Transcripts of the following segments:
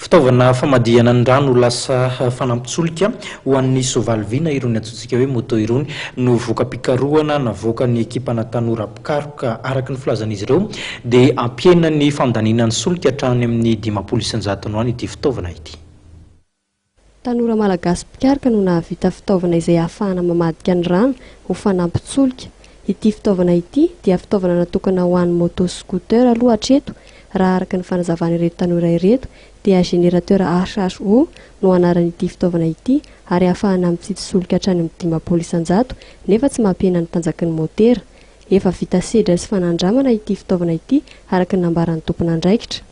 Fitaovana famadihana ny rano ho lasa fanampin-tsolika ho an'ny soavaly vy na irony antsointsika hoe moto irony no voka-pikarohana navoakan'ny ekipana tanora mpikaroka. Araka ny filazan'izy ireo dia hampihena ny fandaniana ny solika hatrany amin'ny dimampolo isan-jatony ho any ity fitaovana ity. Tanora malagasy mpikaroka no nahavita fitaovana izay ahafahana mamadika ny rano ho fanampin-tsolika. Ity fitaovana ity dia fitaovana natokana ho an'ny moto scooter aloha hatreto raha araka ny fanazavan'ireto tanora ireto dia générateur HHO no anaran'ity fitaovana ity ary ahafahana mitsitsy solika hatrany amin'ny dimampolo isan-jato nefa tsy mampihena ny tanjaky ny motera. Efa vita sedra sy fanandramana ity fitaovana ity, araka ny nambaran'ny tompon'andraikitra.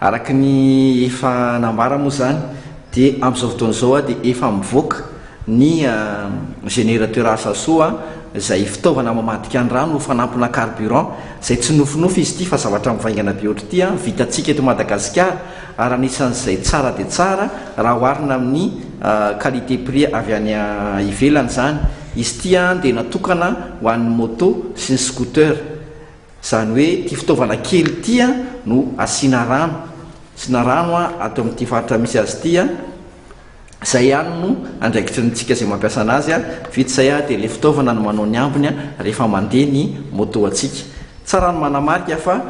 Araka ny efa nambara moa izany dia amin'izao fotoana izao dia efa mivoaka ny générateur Asaso izay fitaovana mamadika ny rano ho fanampina carburant izay tsy nofinofy izy ity fa zavatra mivaingana be ohatr'ity vitantsika eto Madagasikara ary anisan'izay tsara dia tsara raha oharina amin'ny qualité prix avy any ivelany izany. Izy ity dia natokana ho an'ny moto sy ny scooter. Izany hoe ity fitaovana kely ity no asiana rano. Asiana rano ato amin'ity faritra misy azy ity. Izay ihany no andraikitry ny antsika izay mampiasa an'azy. Vita izay dia ilay fitaovana no manao ny ambiny rehefa mandeha ny moto antsika. Tsara ny manamarika fa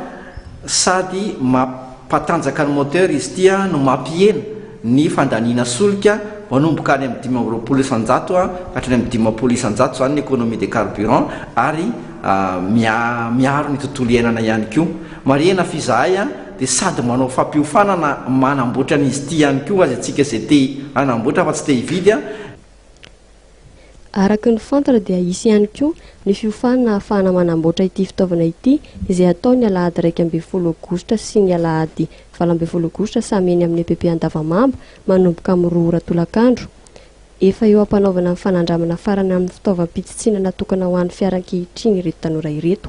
sady mampiasa. Mpatanjaka ny moteur izy ity no mampihena ny fandaniana solika manomboka any amin'ny dimy amby roapolo isan-jato ka hatrany amin'ny dimampolo isan-jato izany ny économie des carburants ary miaro ny tontolo iainana ihany koa. Marihina fa izahay dia sady manao fampiofanana manamboatra an'izy ity ihany koa azy antsika izay te hanamboatra fa tsy te hividy. Araka ny fantatra dia hisy ihany koa ny fiofanana ahafahana manamboatra ity fitaovana ity izay hatao ny alahady iraika ambin'ny folo aogositra sy ny alahady valo ambin'ny folo aogositra samy eny amin'ny EPP Andavamamba manomboka amin'ny roa ora tolakandro. Efa eo am-panaovana ny fanandramana farany amin'ny fitaovam-pitsitsiana natokana ho an'ny fiara ankehitriny ireto tanora ireto.